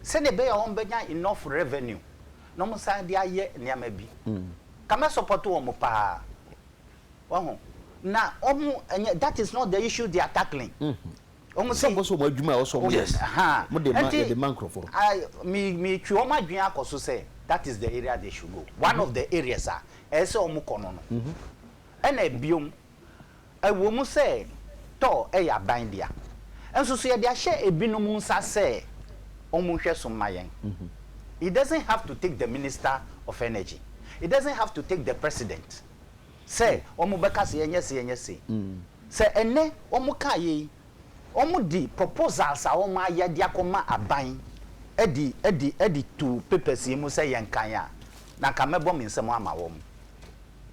sɛdeɛ ɛbɛyɛ a wɔbɛnya enough revenue na wɔn san de ayɛ nneɛma bi ka mɛ support wɔn paa wahu na wɔn ɛnyɛ that is not the issue they are tackling. Wɔn sɛ. Wɔn sɛ wɔn adwuma a wɔsɔ wɔn yɛ no. Wɔn de ma yɛde ma nkorɔfoɔ. Me me twe wɔn adwene akɔ so sɛ that is the area they should go one of the areas a ɛyɛ sɛ wɔn kɔ no no ɛna bio ɛwɔ mu sɛ tɔ ɛyɛ aban dea nso so yɛde ahyɛ ebinom nsa sɛ wɔn nhwɛ so mma yɛn it doesn't have to take the minister of energy it doesn't have to take the president. Sɛ wɔn bɛka se yɛnyɛ se yɛnyɛ se. Sɛ ɛnnɛ wɔn kaa yei, wɔn de proposals a wɔn ayɛ de akɔ ma aban de de de to papers yi mu sɛ yɛn kan a, na nka mɛbɔ me nsam ama wɔn.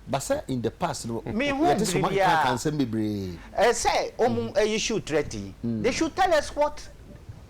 But sɛ in the past no, yɛte se wɔn akenkan kan nsɛm bebree. Ɛsɛ wɔn issue threat yi, they should tell us what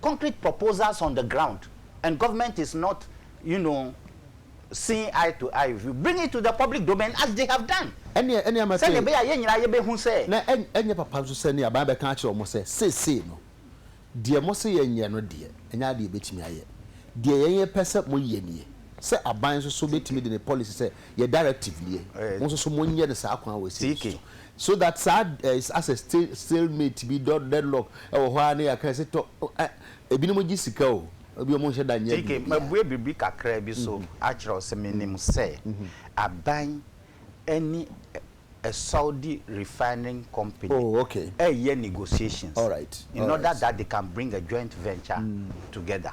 concrete proposals on the ground and government is not you know seeing eye to eye with you bring it to the public domain as they have done Ɛnneɛ, ɛnneɛ mɛka sɛdeɛ yi, ɛbɛyɛ a yɛn nyinaa yɛbɛhu sɛ. na ɛn, ɛnyɛ papa nso sɛ ne aban bɛka akyerɛ wɔn sɛ, Seesei no, deɛ mose yɛnyɛ no deɛ, ɛnyɛ adeɛ a yɛbɛtumi ayɛ. Deɛ yɛn yɛpɛ sɛ moyɛ nie, sɛ aban nso so bɛtumi de ne policy sɛ, yɛ directive nie, mo nso so monyɛ no saa kwan wei sei nso so. So that saa is asɛ stale mate bi dɔ deadlock wɔ hɔ ara ne yɛaka sɛ tɔ eh ebinom gye sika o ebi wɔn nhyɛ da nyɛ biribi. Ike, mabue biribi kakra bi so akyerɛ wo sɛ menim sɛ aban ɛne Saudi refining company Oh okay. ɛreyɛ negotiations Alright in order alright. that they can bring a joint venture together.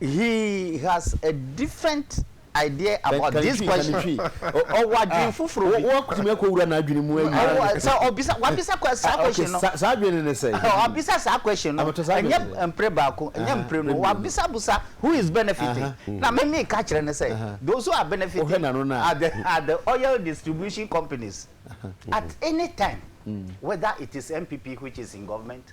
He has a different idea about this question. Kantwi kantwi. Ɔ ɔwɔ adwene ah, foforɔ bi. Wo akutumi akɔ wura n'adwene mu ayi. Ɔwɔ sɛ ɔbisa wabisa kwa saa question no. Okay, saa adwene ne sɛ. Wabisa saa question no. Abɛtɔ saa adwene. Ɛnyɛ mpere baako, ɛnyɛ mpere no. Wabisa busa who is benefiting. Na me me ka kyerɛ ne sɛ those who are benefiting. Wohwɛ n'ano na. Are the are the oil distribution companies. At any time. Mm. Whether it is NPP which is in government,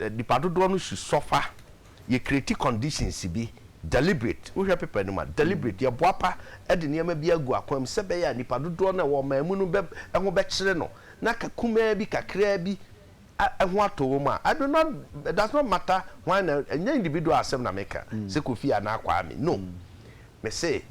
Nnipa dodoɔ no su sɔ fa yɛ create conditions bi deliberate wohwɛ paper no mu a deliberate yɛ boapa de nneɛma bi agu akwan mu sɛ ɛbɛyɛ a nnipa dodoɔ no a ɛwɔ ɔman mu no bɛ ho bɛkyere no na ka kumaa bi kakraa bi a ho atɔ wɔn a I do not it does not matter why na ɛnyɛ individual asɛm na meka sɛ Kofi anaa Kwame no mese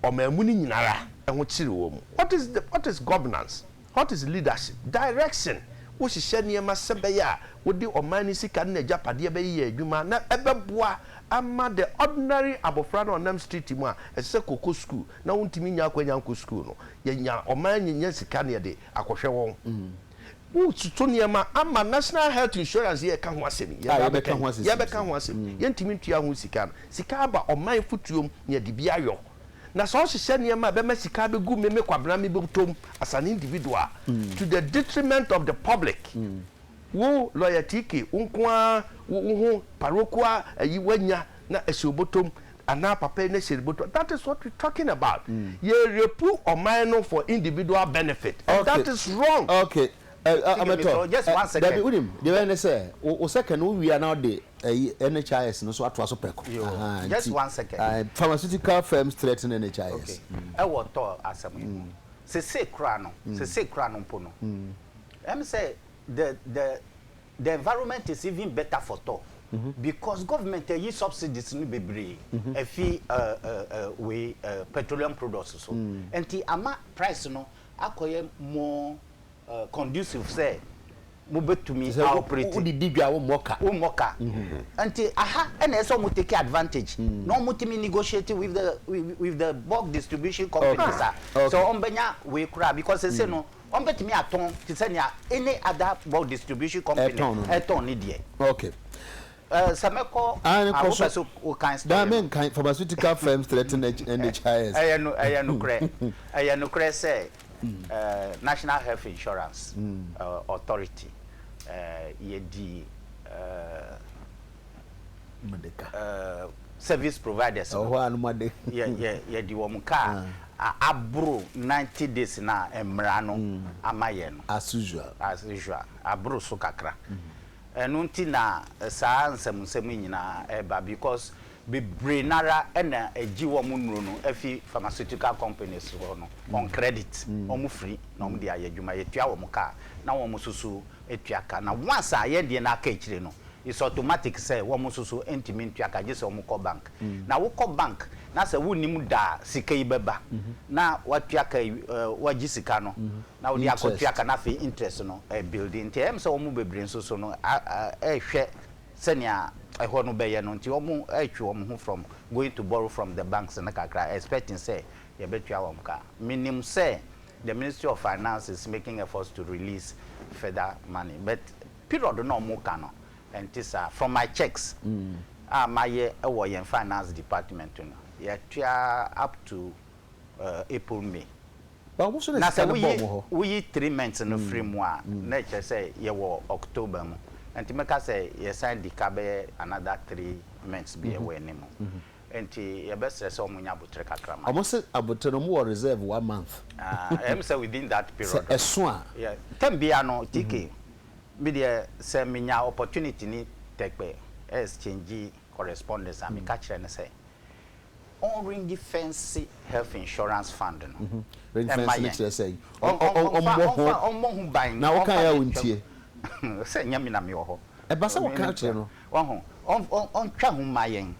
ɔmanmu no nyinara ho kyere wɔ mu. What is the what is governance? What is leadership? Direction, wo hyehyɛ nneɛma sɛ bɛyɛ a wo de ɔman no sika ne nagyapadeɛ bɛ yɛ adwuma na ɛbɛboa ama the ordinary abɔfra no a ɔnam street mu a ɛsɛ sɛ kɔ kɔ school na wo ntumi nya akwanya nkɔ school no yɛ nya ɔman nya sika ne yɛde akɔhwɛ wɔn. Wototo nneɛma ama National Health Insurance yɛreka ho asɛm yi, yɛbaa bɛka yi, yɛbɛka ho asɛm yi, yɛntumi ntua ho sika no, sika aba ɔman fotuo mu na yɛde bi ayɔ. Na sɛ ɔhyehyɛ nneɛma a ɛbɛma sika abɛgu me, me Kwabena, me bɔtɔ mu as an individual a, to the detriment of the public, wo Lawyer TK, wo nko ara wo ho parokual ayi woanya na ɛhyɛ wo bɔtɔ mu, Anaa papa yi ne hyɛn bɔtɔ that is what we talking about yɛ repu ɔman no for individual benefit and that is wrong. ok amɛtɔ dabi wunim deɛ bɛyɛ ne sɛ wo second wo wie a na ɔde ɛyi NHIS no so atoa so pɛko just one second pharmaceutical firms threaten NHIS ɛwɔ tɔ asɛm yi mu sese kura no sese kura no mpo no ɛm sɛ the the. the environment is even better for tɔ because government ayi subsidies no bebree afi wei petroleum products so nti ama price no akɔyɛ more conducive sɛ mobɛtumi aoperate. Wode di dwa wommɔ ka. Wommɔ ka. Nti aha ɛna ɛsɛ sɛ wɔn take advantage na wɔn tumi negotiate with the with the bulk distribution companies a sɛ wɔn bɛnya wei koraa because sese no wɔbɛtumi atɔn te sɛ nea any other bɔ distribution company Ɛtɔn no no. ɛtɔn ne deɛ. Okay. Eh, sɛ mɛkɔ Aane, ah, kɔ wopɛ so. sɛ wokan Daa story no menkan, pharmaceutical firms threaten H- NHIS. ɛyɛ no ɛyɛ nokorɛ ɛyɛ nokorɛ sɛ eh, national health insurance eh, authority eh, yɛdi eh, service providers no yɛde wɔn kaa aboro ninety days no a mmara no ama yɛn no as usual aboro so kakra ɛno nti na saa nsɛm nsɛm yi nyinaa ɛba because bebree no ara na ɛgye wɔn nnuro no afi pharmaceutical companies hɔ no on credit wɔn firi na wɔn de ayɛ adwuma yɛtua wɔn kaa na wɔn susu tua ka na once a yɛn deɛ no aka akyire no it's automatic sɛ wɔn nso so ntumi ntua ka gye sɛ wɔn kɔ bank na wo kɔ bank na sɛ wo nnim da a sika yi bɛba na watua ka wagye sika no na wode akɔ tua ka na afei interest no ɛbuildi nti ɛyɛ me sɛ wɔn bebree nso so no ɛrehwɛ sɛnea ɛhɔ no bɛyɛ no nti wɔn ɛretwe wɔn ho from going to borrow from the banks no kakra expecting sɛ yɛbɛtua wɔn ka menim sɛ the ministry of finance is making efforts to release further money but period na ɔmo ka no ɛnte saa from my checks a mayɛ wɔ yɛn finance department no yɛtua up to uh, april may na sɛ woyi woyi three months no firi mu a na ɛkyerɛ sɛ yɛwɔ october mu nti mɛka sɛ yɛsan di ka bɛyɛ another three months bi ɛwɔ anim. Enti yɛbɛsrɛ sɛ wɔnya aboterɛ kakra ma yɛn. Wɔn se aboterɛ no wɔn wɔ reserve one month. Ah ɛyɛ me sɛ within that period no. Sɛ ɛso a. Yɛ term biara no TK me deɛ sɛ me nya opportunity ne Tɛkpɛ exchange correspondence a me ka kyerɛ no sɛ ɔn ringi fɛnse health insurance fund no ɛma yɛn. Ɔnfa ɔnmɔ ho ban. Na wo kan yɛ a wo ntie. Sɛ nyɛ me na me wɔ hɔ. Ɛba sɛ wo ka kyerɛ no Wahu? Ɔn, ɔn, ɔntwa ho mma yɛn.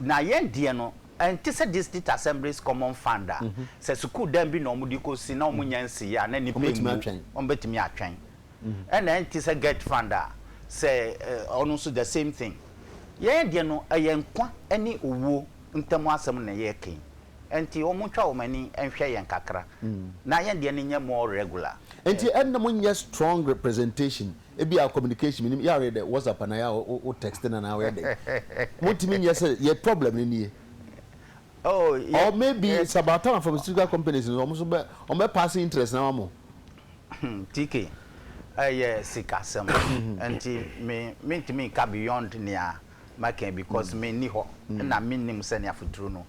Na yɛn deɛ no, ɛnte sɛ District Assemblies Common Fund a, sɛ sukuu dan bi na wɔde kɔsi na wɔnnya nsiiɛ a, na nnipa Wɔbɛtumi mmu, atwɛn. wɔbɛtumi atwɛn. Ɛna ɛnte sɛ Gert Fund a, sɛ ɛ, ɔno nso the same thing. Yɛn deɛ no, ɛyɛ nkwa ne owuo ntam asɛm na yɛreka yi. Ɛnti wɔntwa wɔn ani nhwɛ yɛn kakra, na yɛn deɛ no nyɛ more regular. Ɛnti ɛnna monyɛ strong representation Ebia communication, menim, yɛ ara yɛ dɛ WhatsApp anaa yɛ ara wo wo texting anaa woyɛ dɛn. Montumi nyɛ sɛ yɛ problem no nie. Oh, yɛ, Or maybe yɛ. it's about time pharmaceutical companies no wɔn nso bɛ wɔn bɛ pass interest no ama mo. TK, ɛyɛ sikasɛm nti me mentumi nka beyond nea mɛka because menni hɔ na mennim sɛnea futuro no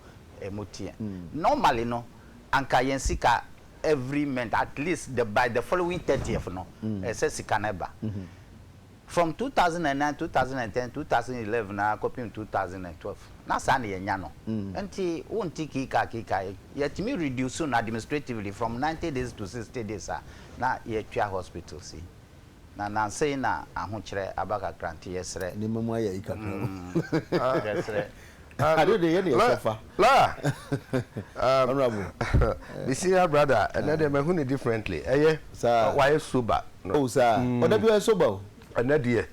mu teɛ. Normally no anka yɛn sika every month at least the by the following thirtieth no ɛsɛ sika no ba from two thousand and nine two thousand and ten two thousand eleven ara kɔpem two thousand and twelve na saa na yɛnya no nti wonte kiikaa kiikaa yi yɛtumi reduce no administratively from ninety days to sixty days a na yɛtua hospitals yi. Na nansei na ahokyerɛ aba kakra nti yɛsrɛ. Nneɛma mu ayɛ ayi kakra o. Mm, yɛsrɛ. Ade de yɛ ne yɛsɛ fa. La, um, Honorable. me senior brother, ɛnɛ deɛ mahu no differently. Ɛyɛ, Saa. wayɛ sober. No. Oh, saa. Mm. Ɔda bi ɔyɛ sober o. Ɛnɛ deɛ,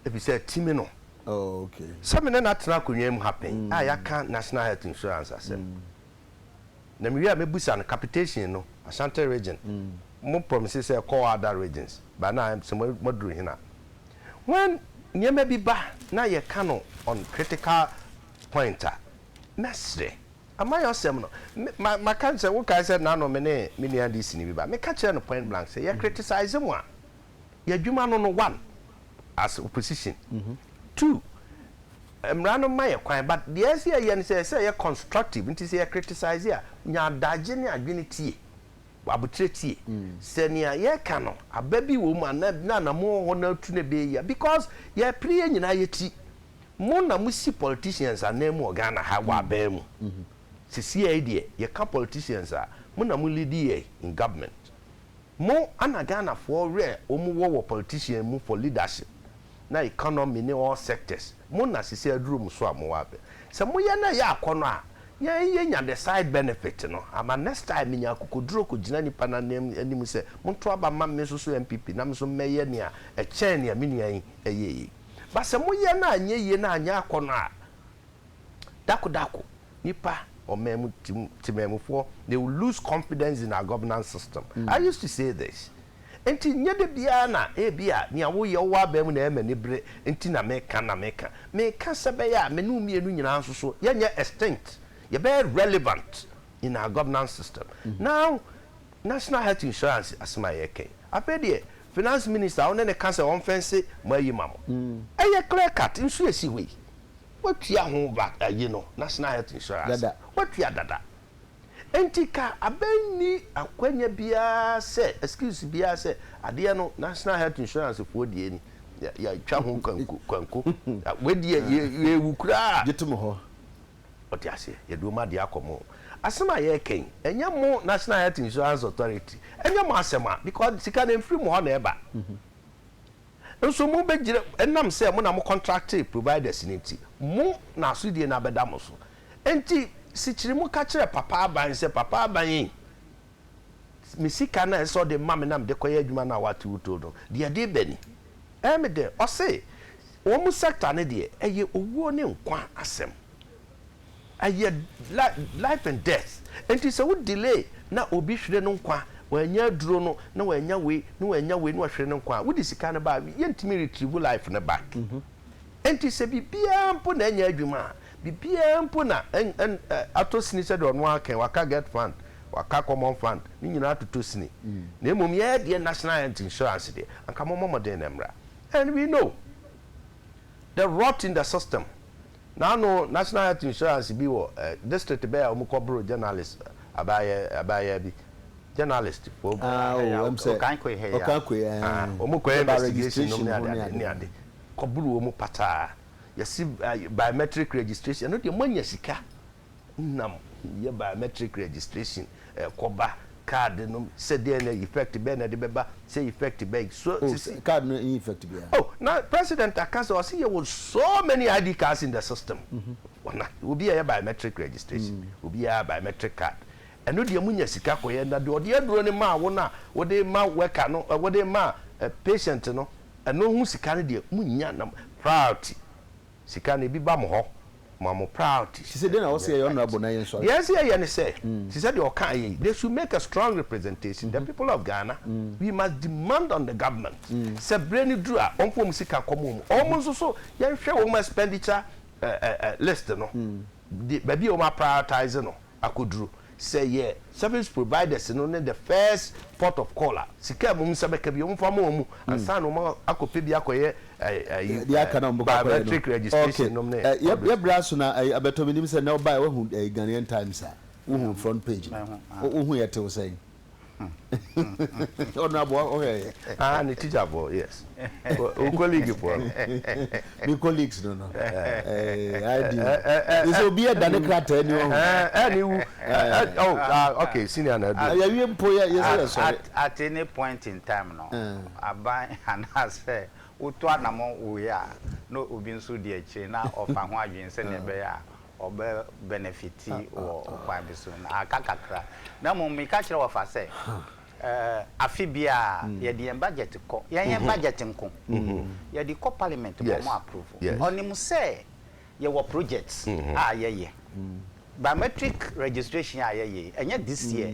efi sɛ ti me no. Oh, okay. Sɛ me ne no atena akonnwa mu ha pɛn a yɛaka National Health Insurance asɛm. Mm. na mewie a mɛbusa no capitation no Ashanti region mo promise sɛ ɛkɔ other regions but na ayɛ sɛ moaduru he na when nneɛma bi ba na yɛka no on critical point a mɛsrɛ am I ɔsɛm no maka sɛ wokae sɛ nano me ne me nua DC no bi ba meka kyerɛɛ no point blank sɛ yɛ criticize mo a yɛ adwuma no no one as opposition two mmara no ma yɛ kwan but deɛ ɛsɛ yɛyɛ no sɛ ɛsɛ yɛ constructive nti sɛ yɛ criticize a nya adagye ne adwene tie aboterɛ tie sɛ nea yɛka no aba bi wɔ mu anaa na anamu wɔ hɔ na atu na ɛbɛyɛ yia because yɛ pere yɛ nyinaa yɛ ti mo na mo si politicians anan mu wɔ Ghana ha wɔ aban mu sisi yɛ deɛ yɛka politicians a mo na mo lead yɛ in government Mo ana Ghanafoɔ werɛ ɔmu wɔ wɔ politician mu for leadership na economy ne all sectors mo na sesei aduru mo so a mo wɔ abɛ sɛ mo yɛ na ɛyɛ akɔnɔ a yɛn yɛ nya the side benefit no ama next time me nya akokoduro kɔ gyina nipa no anim sɛ mo nto aba mma me nso so NPP na me nso mmɛ yɛ nea ɛkyɛn nea me nua yi ɛyɛ yi but sɛ mo yɛ na anyɛ yie na anyɛ akɔnɔ a dako dako. Nipa ɔman mu temanmufoɔ they will lose confidence in our governance system I used to say this nti nyɛ da biara na ebi a nea woyɛ wowɔ aban mu na ɛyɛ m'ani bere nti na meka na meka meka sɛ bɛyɛ a me ne wo mmienu nyinaa nso so yɛnyɛ extinct yɛbɛyɛ relevant in our governance system now national health insurance asɛm a yɛka yi afei deɛ finance minister a wo ne ne ka sɛ ɔmfɛnse mo ayi ma mo ɛyɛ clear cut nso esi hɔ yi. Watua ho va ayi no, National Health Insurance. Dada. Watua dada. Enti ka abɛ nni akwanya biara sɛ, excuse biara sɛ, adeɛ no National Health Insurance foɔ deɛ ni, yɛ, yɛatwa ho kanku, kanko. Wei deɛ, yɛ, yɛrewu koraa. Gye tom hɔ. Wote aseɛ? Yɛde wɔn adeɛ akɔ mo. Asɛm a yɛreka yi, ɛnyɛ mo National Health Insurance Authority, ɛnyɛ mo asɛm a, because sika no ɛmfiri mo hɔ na ɛba. Nso mo bɛgyina, ɛnam sɛ mo na mo kɔntrakte providers no nti, mo na asodie no abɛda mo so. Enti sikyiri mo ka kyerɛ Papa Aban sɛ, Papa Aban ei, me sika no a ɛsɛ sɛ ɔde ma me na mede kɔyɛ adwuma no a woate wo too no, deɛ ɛde reba ni. Ɛyɛ me dɛ, ɔse, wɔn sector no deɛ, ɛyɛ owuo ne nkwa asɛm. ɛyɛ life and death nti sɛ wo delay na obi hwere no nkwa wanya aduro no na wanya wei na wanya wei na wahwere no nkwa wode sika no ba yɛntumi retrieve life no back nti sɛ biribiara mpo na anya adwuma a biribiara mpo na atɔ sini sɛ deɛ ɔno aka waka get fund waka common fund ne nyinaa atotɔ sini na mmom yɛyɛ deɛ national health insurance deɛ anka mɔmmɔ mmɔden na mmra and we know the rot in the system Naano National Health Insurance bi wɔ eh, district bɛɛ a ɔmo kɔ boro journalist abaayɛ abaayaa bi, journalist fo bi. Ah oh, Ɛyɛ ɛm sɛ Okankwe ha yi a. Okankwe eh, Ah, ɔmo kɔyɛ ne ba investigation nom registration ne ho ade ne ade ne ade. ade. Kɔ boro ɔmo pataa, yɛse eh, biometric registration, ɛno deɛ moanya sika. nam yɛ biometric registration kɔ ba card no sɛ deɛ na effect bɛn na ɛde bɛba sɛ effect bɛn so oh, sisi card no ɛnyɛ effect biara oh na president aka sɛ ɔsi yɛ wɔ so many id cards in the system mm -hmm. ɔna obi yɛ biometric registration mm -hmm. obi yɛ biometric card ɛno deɛ munya sika kɔyɛ na deɛ ɔde aduro no maa wo no a wɔde ma worker no wɔde ma patient no ɛno ho sika no deɛ munya na priority Sika no ebi ba mo hɔ ma mo priorities. Te sɛ deɛ na ɔsɛ yɛyɛ honourable na yɛn nsɔre. Deɛ ɛsɛ yɛyɛ ne sɛ, te sɛ deɛ ɔkaa yɛ yi, they should make a strong representation, the people of Ghana, we must demand on the government sɛ berɛ no duru a wɔmfa wɔn sika nkɔma wɔn. Wɔn nso so yɛnhwɛ wɔn expenditure list no, baabi a wɔn a prioritise no. akoduru. Sɛ yɛ service providers no ne the first port of call a, sika a wɔn nsa bɛka biara, wɔmfa mma wɔn ansa na wɔakɔpɛ bi akɔyɛ ayi, biometric registration nom ne all those. Yɛbrɛ aso na ayi abɛtɔ me. Nim sɛ nnɛ wobaeɛ, woahu Ghanaian Times a, wohu front page no, wohu yɛtew sɛn? ɔno aboa ɔhwɛ yɛ ah ne teacher fo yes o colleague fo me colleagues no no i do they say obi ɛda ne krataa ni ɔho ɛ ne wu oh okay senior na do ya wie mpo ya yɛ sɛ yɛ sɔre at any point in time no aban anaasɛ wotu anamɔ wei a na obi nso di akyire na ɔfa ho adwene sɛdeɛ ɛbɛyɛ a ɔbɛ benefiti wɔ ɔkwan bi so na aka kakra na mmom meka kyerɛ wɔfa sɛ afe biara yɛde yɛn budget kɔ yɛn yɛn budget nko yɛde kɔ parliament ma ɔmo approve ɔnim sɛ yɛwɔ projects a yɛyɛ biometric registration a yɛyɛ ɛnyɛ this year.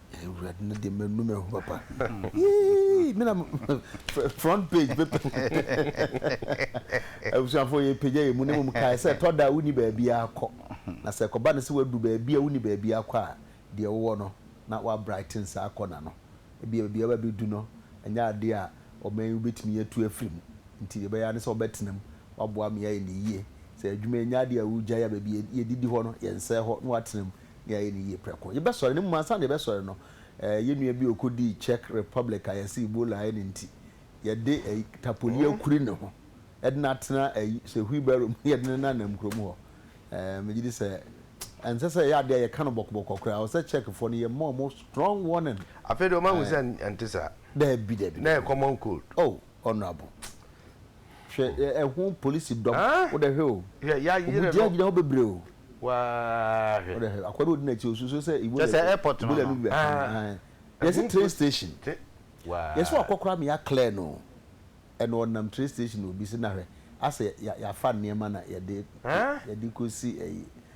Awurade no deɛ manu me ho papa yii me na front page bɛpɛ abusuafo yɛ pagya yɛ mu ne mu kae sɛ ɛtɔ da a wonni baabi akɔ na sɛ ɛkɔba no sɛ wadu baabi a wonni baabi akɔ a deɛ wowɔ no na wa brighten saa akɔ na no ebi a baabi a wabɛdu no ɛnyɛ adeɛ a ɔman yi wobɛtumi atu afiri mu nti deɛ ɛbɛyɛ ne sɛ wɔbɛtena mu waboa me ayɛ ne yie sɛ adwuma ɛnyɛ adeɛ a wogyae a baabi yɛdidi hɔ no yɛnsɛe hɔ na watena mu na yɛayɛ no yie prɛko. Yɛbɛsɔre, na mmom ansa na yɛbɛsɔre no, eh, yɛn nua bi a ɔkɔdii Czech Republic a yɛse Ebola ayɛ no nti, yɛde eh, tapoli akuri ne ho de no atena eh, sɛ wheelbarrow mu na yɛde no nenanam kurom hɔ. Eh, megye di sɛ ɛnsɛ sɛ ɛyɛ adeɛ a yɛka no bɔkɔbɔkɔ koraa. Ɔsɛ Czechfoɔ no, yɛma wɔn strong warning. Afei deɛ wɔahu sɛ ɛnte saa. Daabi, daabi, daabi. Na ɛyɛ common cold. Oh. Honourable. Hwɛ ɛ ɛho polisi dɔm. Aa! Wo dɛ hwɛ o. Hwɛ ya yerɛ no. Obu dia gyina hɔ bebree o. Waa hwɛ. Wo dɛ hwɛ akoa bi odi n'akyi osusu sɛ Ebola. Kyɛ sɛ airport no no. Ebola no bi bɛka no. Aa. Yɛsi train station. Te waa. Yɛsi wakɔ koraa ma ya clear no o. Ɛna ɔnam train station na obi si na hwɛ asɛ ya yafa nneɛma na yɛde. Aa. Yɛde kɔ si ɛyi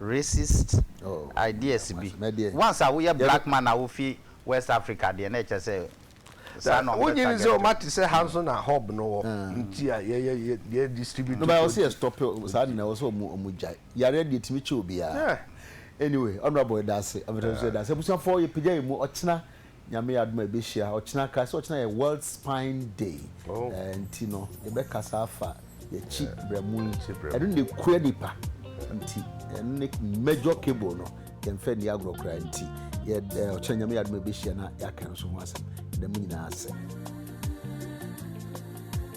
racist ideas bi once a woyɛ black man a wofi west Africa deɛ na ɛkyɛ sɛ saa na ɔmo bɛ target wo. Wonye ni sɛ ɔma te sɛ ha nso na hub no wɔ nti a yɛ yɛ yɛ yɛ distribute produce. No ba ɔsɛ yɛ stop saa nina ɔsɛ ɔmo ɔmo gyae yareɛ deɛ ɛtumi kyɛ obiara anyway honourable yɛda ase abɛtɛ nso yɛda ase abusuafoɔ yɛ pagya yɛ mu ɔkyena Nyame yɛ adom a yɛbɛhyia ɔkyena kra sɛ ɔkyena yɛ World Spine Day eh, nti no yɛbɛkasa afa yɛkyi brɛmo yi ɛno na ɛkura nipa nti ɛno ne major cable no yɛmfɛ nni agorɔ koraa nti yɛ eh, ɔkyena Nyame yɛ adom a yɛbɛhyia na yɛaka nso ho asɛm yɛda mu nyinaa ase